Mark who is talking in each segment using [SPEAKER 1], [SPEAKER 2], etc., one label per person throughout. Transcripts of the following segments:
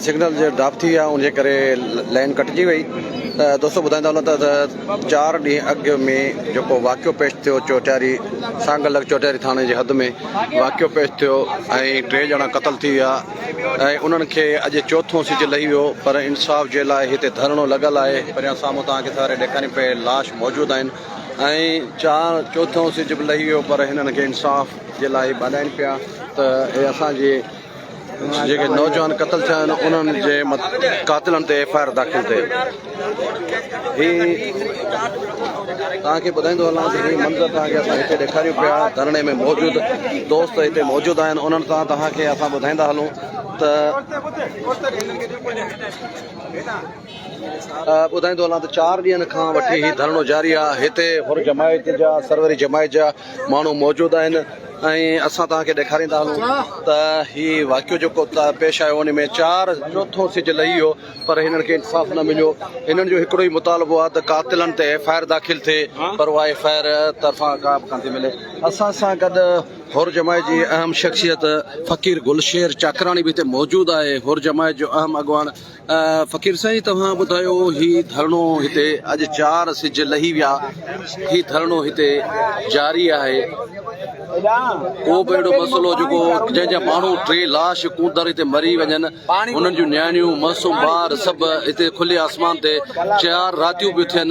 [SPEAKER 1] Signal جي drop ٿي ويا ان جي ڪري لائين ڪٽجي وئي ته دوستو ٻڌائيندا هلون ته چار ڏينهن اڳ ۾ جيڪو واقعو پيش ٿيو چوٽياري سانگل لڳ چوٽياري ٿاڻي جي حد ۾ واقعو پيش ٿيو ۽ ٽي ڄڻا قتل ٿي ويا ۽ انهن کي اڄ چوٿون سج لهي ويو پر انصاف جي لاء هتي ڌرڻو لڳل آهي پريان سامهون توهان کي ساري ڏيکارين پئي لاش موجود آهن ۽ چار چوٿون سج به لهي ويو پر هنن کي انصاف جي لاء ٻاڏائين پيا ته اهي اسان جي جيڪي نوجوان قتل ٿيا آهن انهن جي قاتلن تي ايف آء آر داخل ٿئي هي توهان کي ٻڌائيندو هلان ته هي منظر توهان کي اسان هتي ڏيکاريون پيا ڌرڻي ۾ موجود دوست هتي موجود آهن انهن سان توهان کي اسان ٻڌائيندا هلون ته ٻڌائيندو هلان ته چار ڏينهن کان وٺي هي ڌرڻو جاري آهي، هتي حر جماعت جا سروري جماعت جا ماڻهو موجود آهن ۽ اسان توهان کي ڏيکاريندا هلون ته هي واقعو جيڪو پيش آيو ان ۾ چار چوٿون سج لهي ويو پر هنن کي انصاف نه مليو، هنن جو هڪڙو ئي مطالبو آهي ته قاتلن تي ايف آء آر داخل ٿئي پر اها ايف آء آر طرفان ڪا به ڪانٿي ملي، اسان سان گڏ حر جماعت جي اهم شخصيت فقير گل شير چاڪراڻي به هتي موجود آهي، حر جماعت جو اهم اڳواڻ. فقير سائين توهان ٻڌايو هي ڌرڻو هتي اڄ چار سج لهي ويا هي ڌرڻو هتي جاري آهي ڪو به اهڙو مسئلو جيڪو جنهن جا ماڻهو ٽي لاش ڪوندر هتي مري وڃن هنن جون نياڻيون معصوم ٻار سڀ هتي کلي آسمان تي چار راتيون پيون ٿين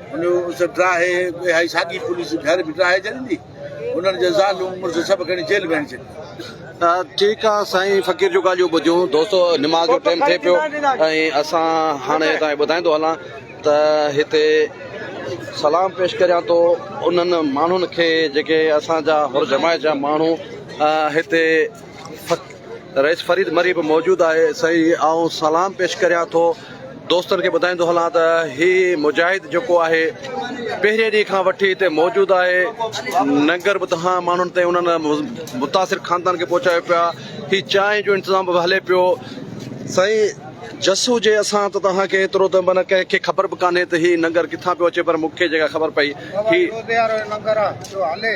[SPEAKER 2] ان جو اس ڊراهي ٻي هائي ساڳي پوليس گهر به ڊراهي ڇڏيندي انهن جي زالون مڙس سڀ کڻي جيل ۾ هڻي ڇڏيندي. ٺيڪ
[SPEAKER 1] آ سائين فقير جون ڳالهيون ٻڌيون دوستو نماز جو ٽيم ٿئي پيو ۽ اسان هاڻي هتان ٻڌائيندو هلان ته هتي سلام پيش ڪريان ٿو انهن ماڻهن کي جيڪي اسان جا هر جماعت جا ماڻهو هتي رئيس فريد مري به موجود آهي سائين آئون سلام پيش ڪريان ٿو دوستن کي ٻڌائيندو هلان ته هي مجاهد جيڪو آهي پهرين ڏينهن کان وٺي هتي موجود آهي ننگر به تهان ماڻهن تي انهن متاثر خاندان کي پهچايو پيا هي چانهه جو انتظام به هلي پيو سائين جس هجي اسان ته توهان کي ايترو ته من ڪنهن کي خبر به ڪانهي ته هي ننگر ڪٿان پيو اچي پر مون کي جيڪا خبر پئي هي ننگر جو هلي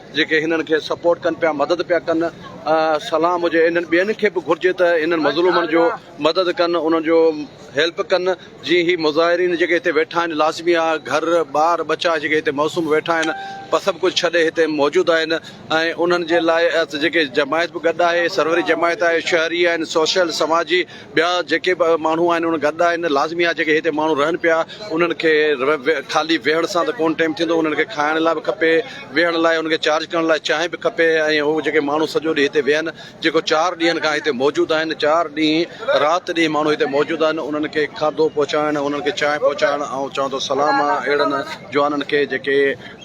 [SPEAKER 1] جيڪي هنن کي سپورٽ ڪن پيا مدد پيا ڪن سلام هجي انهن ٻين کي به گهرجي ته انهن مظلومن جو مدد ڪن انهن جو هيلپ ڪن جي هي مظاهرين جيڪي هتي ويٺا آهن لازمي آ گهر ٻار ٻچا جيڪي هتي معصوم ويٺا آهن پر سڀ ڪجهه ڇڏي هتي موجود آهن ۽ انهن جي لاء جيڪي جماعت به گڏ آهي سروري جماعت آهي شهري آهن سوشل سماجي ٻيا جيڪي به ماڻهو آهن ان گڏ آهن لازمي آهي جيڪي هتي ماڻهو رهن پيا انهن کي خالي ويهڻ سان ته ڪونه ٽيم ٿيندو انهن کي کائڻ لاء به کپي ويهڻ لاء انهن کي چارج ڪرڻ لاء چانهه به کپي ۽ هو جيڪي ماڻهو سڄو ڏينهن هتي ويهن جيڪو چار ڏينهن کان هتي موجود آهن چار ڏينهن رات ڏينهن ماڻهو هتي موجود آهن انهن کي کاڌو پهچائڻ انهن کي چانهه پهچائڻ آئون چوان ٿو سلام آهي اهڙن جوانن کي جيڪي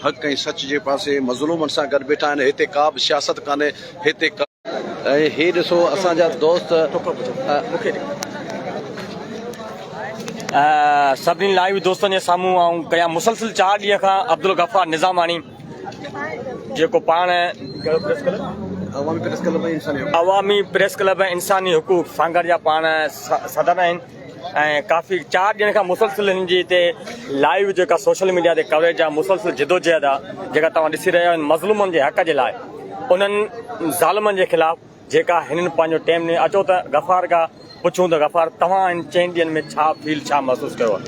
[SPEAKER 1] حق ۽ سچ جي پاسي مظلومن سان گڏ بيٺا آهن هتي ڪا به سياست ڪانهي هتي ۽ هي ڏسو اسان جا دوست
[SPEAKER 3] سڀني لائيو دوستن جي سامهون آئون ڪيان مسلسل چار ڏينهن کان عبدالغفار نظاماڻي جيڪو پاڻ عوامي پريس ڪلب انساني حقوق سانگهڙ جا پاڻ صدر آهن ۽ ڪافي چار ڏينهن کان مسلسل هن جي هتي لائيو جيڪا سوشل ميڊيا تي ڪوريج آ مسلسل جدوجهد آ جيڪا توهان ڏسي رهيا آهيو مظلومن جي حق جي لاء انهن ظالمن جي خلاف جيڪا هنن پنهنجو ٽيم ڏني اچو ته غفار کا پڇون ته غفار توهان هن چئن ڏينهن ۾ ڇا فيل ڇا محسوس ڪيو آ.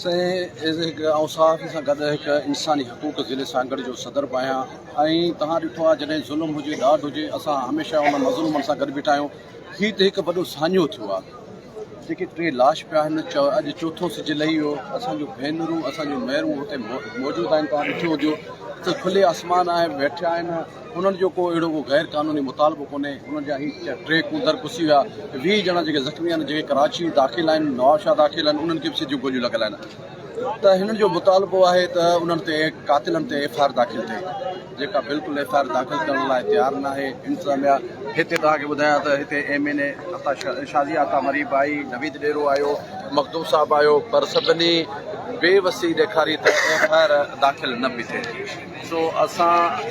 [SPEAKER 3] سائين ايز
[SPEAKER 1] هڪ آئون صحافي سان گڏ هڪ انساني حقوق ضلعي سانگهڙ جو صدر به آهيان ۽ توهان ڏٺو آهي جڏهن ظلم هجي ڏاڍ هجي اسان هميشه ان مظلومن سان گڏ بيٺا آهيون هي ته هڪ وڏو ساڃهو ٿيو آ. جيڪي ٽي لاش پيا آهن چؤ اڄ چوٿون سج لهي ويو اسان جون ڀينرون اسان جون ميرون هتي موجود آهن توهان ڏٺو هجيو ته کلي آسمان آهي ويٺيا آهن انهن جو ڪو اهڙو ڪو غير قانوني مطالبو ڪونهي انهن جا هي ٽي ڪوندر پسي ويا ويهه ڄڻا جيڪي زخمي آهن جيڪي ڪراچي داخل آهن نوابشاهه داخل آهن انهن کي به سڄيون گوليون لڳل آهن ته هنن جو مطالبو آهي ته انهن تي قاتلن تي ايف آر داخل ٿئي جيڪا بلڪل ايف آء آر داخل ڪرڻ لاء تيار ناهي انتظاميا هتي توهان کي ٻڌايان ته هتي M N A Shazia Atta مريب آئي نويد ڏيرو آيو مخدوم صاحب آيو پر سڀني بي وسي ڏيکاري ته ايف آء آر داخل نه پئي ٿئي سو اسان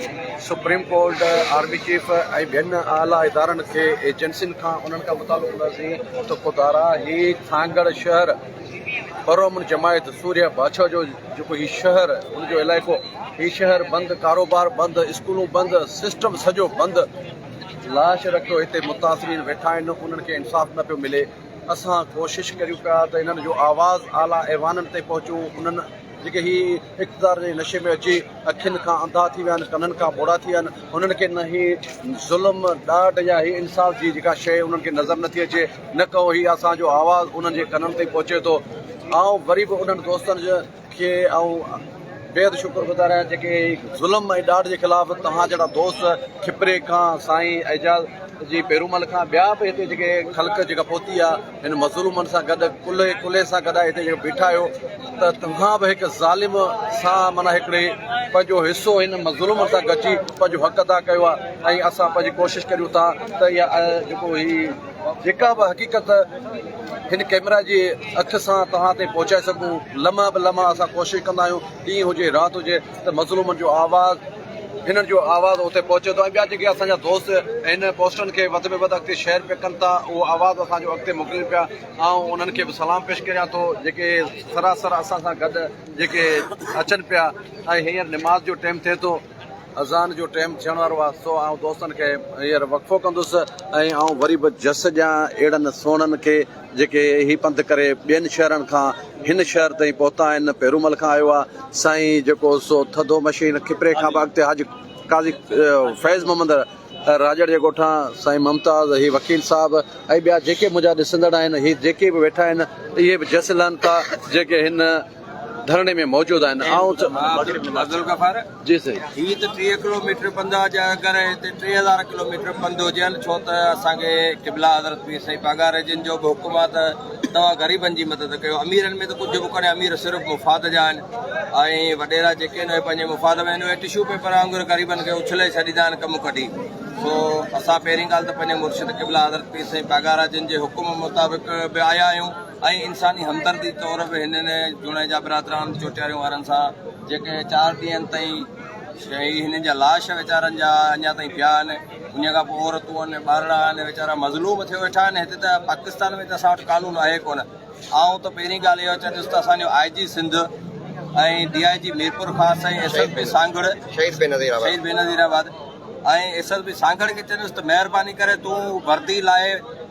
[SPEAKER 1] سپريم ڪورٽ آرمي چيف ۽ ٻين اعليٰ ادارن کي ايجنسين کان انهن کان مطالبو ڪنداسين ته خدارا هي ٿانگڙ شهر پرامن جماعت سورهيه باڇا جو جيڪو هي شهر ان جو علائقو هي شهر بند ڪاروبار بند اسڪولون بند سسٽم سڄو بند لاش رکيو هتي متاثرين ويٺا آهن انهن کي انصاف نه پيو ملي اسان ڪوشش ڪريون پيا ته انهن جو آواز اعليٰ ايوانن تي پهچون انهن جيڪي هي اقتدار جي نشي ۾ اچي اکين کان انڌا ٿي ويا آهن ڪنن کان ٻوڙا ٿي ويا آهن انهن کي نه هي ظلم ڏاڍ يا هي انصاف جي جيڪا شيء انهن کي نظر نٿي اچي نه ڪئو هي اسان جو آواز انهن جي ڪنن تائين پهچي ٿو آئون وري به انهن دوستن جو کي آئون بيحد شڪر گذار آهيان جيڪي هي ظلم ۽ ڏاڍ جي خلاف توهان جهڙا دوست کپري کان سائين اعجاز جي پيرومل کان ٻيا به هتي جيڪي خلق جيڪا پهتي آ هن مظلومن سان گڏ ڪلهي ڪلهي سان گڏ هتي جيڪي بيٺا آهيو ته توهان به هڪ ظالم سان معنيٰ هڪڙي پنهنجو حصو هن مظلومن سان گڏجي پنهنجو حق ادا ڪيو آ ۽ اسان پنهنجي ڪوشش ڪريون ٿا ته اها جيڪو هي جيڪا به حقيقت هن ڪئميرا جي اک سان توهان تائين پهچائي سگهون لمحه به لمحه اسان ڪوشش ڪندا آهيون ڏينهن هجي رات هجي ته مظلومن جو آواز هنن جو آواز اتي پهچي ٿو ۽ ٻيا جيڪي اسان جا دوست هن پوسٽن کي وڌ ۾ وڌ اڳتي شيئر پيا ڪن ٿا اهو آواز اسان جو اڳتي موڪلين پيا آئون انهن کي به سلام پيش ڪريان ٿو جيڪي سراسر اسان سان گڏ جيڪي اچن پيا ۽ هينئر نماز جو ٽيم ٿئي ٿو اذان جو ٽيم ٿيڻ وارو آ سو آئون دوستن کي هينئر وقفو ڪندس ۽ آئون وري به جس ڏيان اهڙن سهڻن کي جيڪي هي پنڌ ڪري ٻين شهرن کان هن شهر تائين پهتا آهن پيرومل کان آيو آ سائين جيڪو سو ٿڌو مشين کپري کان به اڳتي حاجي قاضي فيض محمد راڄڙ جي ڳوٺان سائين ممتاز هي وڪيل صاحب ۽ ٻيا جيڪي منهنجا ڏسندڙ آهن هي جيڪي به ويٺا آهن اهي به جس لهن ٿا جيڪي هن ڌرڻي ۾ موجود آهن آئون ته
[SPEAKER 4] جي سائين هي ته
[SPEAKER 1] ٽيهه ڪلو
[SPEAKER 4] ميٽر پندا جا اگر هتي ٽي هزار ڪلو ميٽر پنڌ هجين ڇو ته اسان کي قبلا حضرت پير سائين پاڳاري جن جو به حڪم آهي ته توهان غريبن جي مدد ڪيو اميرن ۾ ته ڪجهه به ڪونهي امير صرف مفاد جا آهن ۽ وڏيرا جيڪي آهن اهي پنهنجي مفاد ۾ آهن اهي ٽشو پيپر وانگر غريبن کي اڇلي ڇڏيندا آهن ڪم ڪڍي سو اسان پهرين ڳالهه ته پنهنجي مرشد قبلا حضرت پير سائين پاڳارا جن جي حڪم مطابق به آيا آهيون ۽ انساني همدردي طور به هنن جوڻيجا برادران چوٽياريون وارن سان جيڪي چار ڏينهن تائين هي هنن جا لاش ويچارن جا اڃا تائين پيا آهن انهي کان پوء عورتون آهن ٻارڙا آهن ويچارا مظلوم ٿي ويٺا آهن هتي ته پاڪستان ۾ ته اسان وٽ قانون آهي ڪونه آئون ته پهرين ڳالهه اهو چوندس ته اسان جو آء جي سنڌ ۽ ڊي آء جي Mirpur Khas ۽ S S P Sanghar Shaheed Benazirabad ۽ S S P Sanghar کي چيس ته مهرباني ڪري تون وردي لاء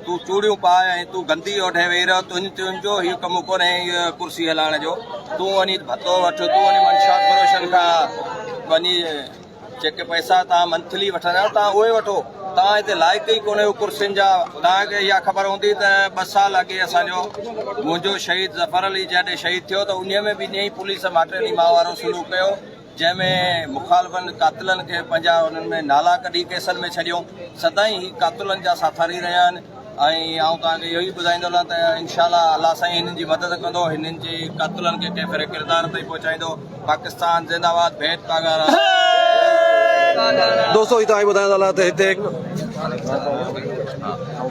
[SPEAKER 4] تون چوڙيون پاء ۽ تون گندي اوڍي ويهي رهه تنهنجي تنهنجو هي ڪم ڪونهي هيء ڪرسي هلائڻ جو تون وڃي ڀتو وٺ تون وڃي منشا فروشن کان وڃي جيڪي پئسا توهان منٿلي وٺندا آهيو توهان اهي وٺو توهان هتي لائق ئي ڪونهيو ڪرسين جا توهان کي اها خبر هوندي ته ٻه سال اڳي اسان جو منهنجو شهيد ظفر علي جڏهن شهيد ٿيو ته انهيء ۾ به ائين ئي پوليس ماٽيلي ماء وارو سلوڪ ڪيو جنهن ۾ مخالفن قاتلن کي پنهنجا انهن ۾ نالا ڪڍي ڪيسن ۾ ڇڏيو سدائين هي قاتلن جا ساٿاري رهيا آهن ۽ آئون توهان کي اهو ئي ٻڌائيندو هلان ته انشاء الله الله سائين هنن جي مدد ڪندو هنن جي قاتلن کي ڪنهن ڦري ڪردار تائين پهچائيندو پاڪستان زنده آباد ڀيٽ پاڳارا
[SPEAKER 1] دوستو توهان کي ٻڌائيندو هلان ته هتي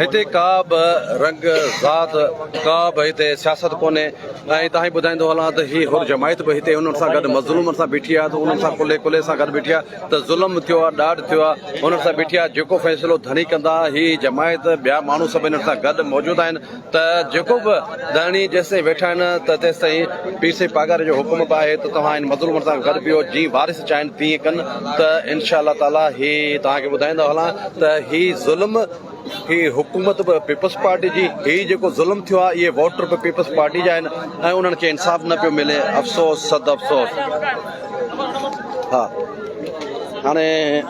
[SPEAKER 1] هتي ڪا به رنگ ذات ڪا به هتي سياست ڪونهي ۽ تان ئي ٻڌائيندو هلان ته هي حر جماعت به هتي انهن سان گڏ مظلومن سان بيٺي آهي ته انهن سان ڪلهي ڪلهي سان گڏ بيٺي آهي ته ظلم ٿيو آهي ڏاڍ ٿيو آهي انهن سان بيٺي آهي جيڪو فيصلو ڌڻي ڪندا هي جماعت ٻيا ماڻهو سڀ انهن سان گڏ موجود آهن ته جيڪو به ڌڻي جيستائين ويٺا آهن ته تيستائين پير سائين پاڳاري جو حڪم به آهي ته توهان هن مظلومن سان گڏ بيهو جيئن وارث چاهين تيئن ڪن ته انشاء الله تعالي هي توهان کي ٻڌائيندو هلان ته هي ظلم هي حڪومت به پيپلز پارٽي جي، هي جيڪو ظلم ٿيو آهي اهي ووٽر به پيپلز پارٽي جا آهن ۽ انهن کي انصاف نه پيو ملي افسوس صد افسوس. ها هاڻي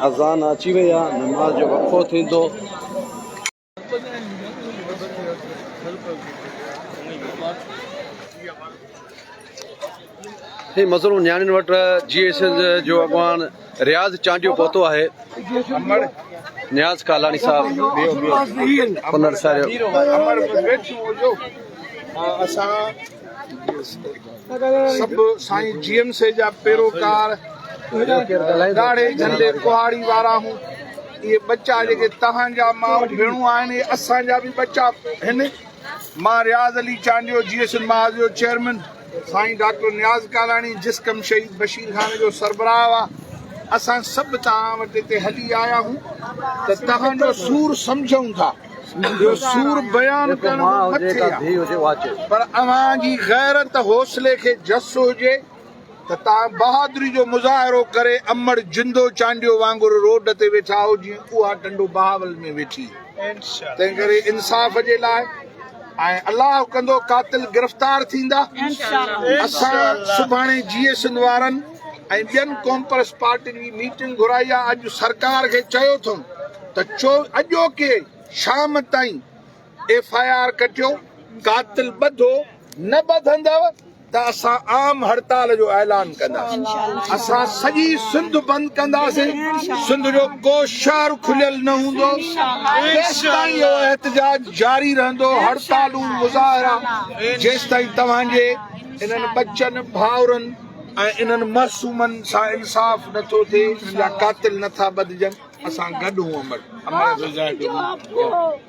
[SPEAKER 1] اذان اچي وئي آ نماز جو وقفو ٿيندو. هي مسئلو نياڻين وٽ جي ايس ايس جو اڳواڻ رياض چانڊيو پهتو آهي نياز ڪالاڻي صاحب پنر ساريو
[SPEAKER 2] اسان سڀ سائين جي ايم سي جا پيروڪار ڏاڙهي جهنڊي ڪهاڙي وارا هون اهي ٻچا جيڪي توهان جا ماء ڀيڻون آهن اهي اسان جا به ٻچا هن مان Riaz Ali Chandio J S N محاذ جو چيئرمين سائين ڊاڪٽر نياز ڪالاڻي جس ڪم شهيد بشير خان جو سربراهه هئا اسان سڀ توهان وٽ هتي هلي آيا آهيون ته توهان جو سور سمجهون ٿا جو سور بيان ڪرڻ مٿي پر اوهان جي غيرت حوصلي کي جس هجي ته توهان بهادري جو مظاهرو ڪري امڙ جندو چانڊيو وانگر روڊ تي ويٺا آهو جيئن اها ٽنڊو بهاول ۾ ويٺي تنهن ڪري انصاف جي لاء ۽ الله ڪندو قاتل گرفتار ٿيندا اسان سڀاڻي جي اي سنڌ وارن ۽ ٻين ڪومپرس پارٽين جي ميٽنگ گهرائي آهي اڄ سرڪار کي چيو اٿم ته چو اڄوڪي شام تائين ايف آء آر ڪٽيو قاتل ٻڌو نه ٻڌندؤ ته اسان عام هڙتال جو اعلان ڪنداسين اسان سڄي سنڌ بند ڪنداسين سنڌ جو ڪو شهر کليل نه هوندو جيستائين اهو احتجاج جاري رهندو هڙتالون مظاهرا جيستائين توهان جي انهن ٻچن ڀائرن ۽ انهن معصومن سان انصاف نٿو ٿئي انهن جا قاتل نٿا ٻڌجن اسان گڏ هون امر امر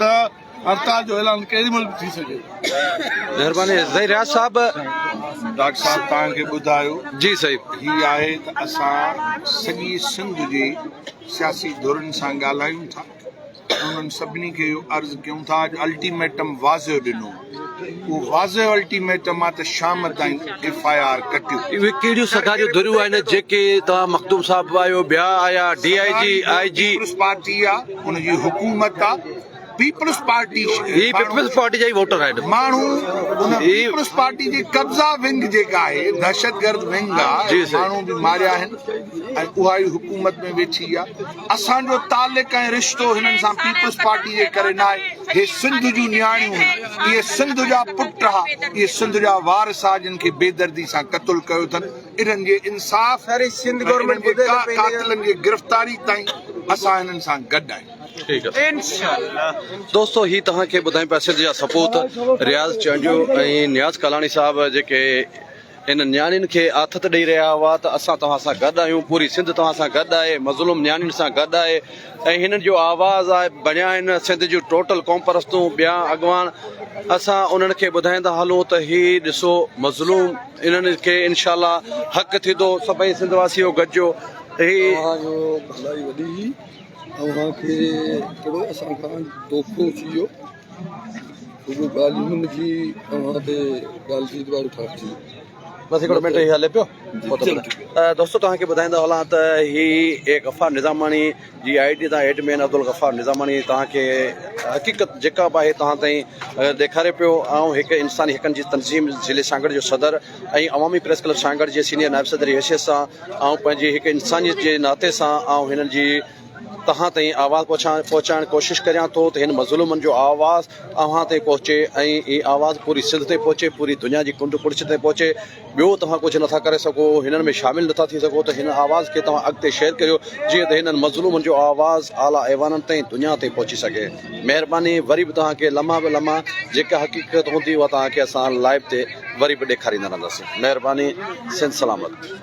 [SPEAKER 2] ته هڙتال جو اعلان ڪهڙي
[SPEAKER 1] مهل
[SPEAKER 2] به ٿي سگهي مهرباني زهير رياض صاحب ڊاڪٽر
[SPEAKER 5] صاحب توهان کي ٻڌايو جي صحيح هي
[SPEAKER 1] آهي ته
[SPEAKER 5] اسان سڄي سنڌ جي سياسي ڌرين سان ڳالهايون ٿا انهن سڀني کي اهو عرض ڪيون ٿا اڄ الٽيميٽم واضح ڏنو اهو واضح الٽيميٽم آهي ته شام تائين ايف آء آر ڪٽيو. اهي ڪهڙيون سگا
[SPEAKER 1] جون ڌريون آهن جيڪي توهان مخدوم صاحب آهيو ٻيا آيا D I G I G. Peoples Party آ
[SPEAKER 5] ان جي حڪومت آ پيپلز پارٽي هي پيپلز پارٽي
[SPEAKER 1] جا ئي ووٽر آهن ماڻهو ان
[SPEAKER 5] پيپلز پارٽي جي قبضا ونگ جيڪا آهي دهشتگرد ونگ آ ماڻهو به ماريا
[SPEAKER 1] آهن
[SPEAKER 5] ۽ اها ئي حڪومت ۾ ويٺي آ اسان جو تعلق ۽ رشتو هنن سان پيپلز پارٽي جي ڪري ناهي، هي سنڌ جون نياڻيون هن، اهي سنڌ جا پٽ ها، اهي سنڌ جا وارث ها جن کي بيدردي سان قتل ڪيو اٿن، انهن جي انصاف ۽ انهن جي قاتلن جي گرفتاري تائين اسان هنن سان گڏ آهيون.
[SPEAKER 1] دوستو هي توهان کي ٻڌايون پيا سنڌ جا سپوت رياض چانڊيو ۽ نياز ڪالاڻي صاحب جيڪي انهن نياڻين کي آٿت ڏئي رهيا هئا ته اسان توهان سان گڏ آهيون، پوري سنڌ توهان سان گڏ آهي، مظلوم نياڻين سان گڏ آهي ۽ هنن جو آواز آهي، بڻيا آهن سنڌ جون ٽوٽل قومپرستون ٻيا اڳواڻ، اسان انهن کي ٻڌائيندا هلون ته هي ڏسو مظلوم انهن کي انشاء الله حق ٿيندو، سڀئي سنڌ واسيو گڏجو هي اوهان جو ڀلائي
[SPEAKER 2] وڏي هي اوهان کي ڪهڙو اسان کان دوکو ٿي ويو. اهي ڳالهيون هن جي اوهان تي ڳالهه جي
[SPEAKER 1] دوباره اٺاٺ ٿي دوستو توهان کي ٻڌائيندو هلان ته هي غفار نظاماڻي جي آئي ڊي تان ايڊمن عبدالغفار نظاماڻي توهان کي حقيقت جيڪا به آهي توهان تائين ڏيکاري پيو آئون هڪ انساني حقن جي تنظيم ضلعي سانگهڙ جو صدر ۽ عوامي پريس ڪلب سانگهڙ جي سينيئر نائب صدر جي حيثيت سان آئون پنهنجي هڪ انسانيت جي ناتي سان آئون هنن جي توهان تائين آواز پهچائڻ ڪوشش ڪريان ٿو ته هن مظلومن جو آواز اوهان تائين پهچي ۽ هي آواز پوري سنڌ تائين پهچي پوري دنيا جي ڪنڊ ڪڙڇ تائين پهچي ٻيو توهان ڪجهه نٿا ڪري سگهو هنن ۾ شامل نٿا ٿي سگهو ته هن آواز کي توهان اڳتي شيئر ڪريو جيئن ته هنن مظلومن جو آواز اعليٰ ايوانن تائين دنيا تائين پهچي سگهي مهرباني وري به توهان کي لمحا به لمحا جيڪا حقيقت هوندي اها توهان کي اسان لائيو تي وري به ڏيکاريندا رهنداسين مهرباني سنڌ سلامت.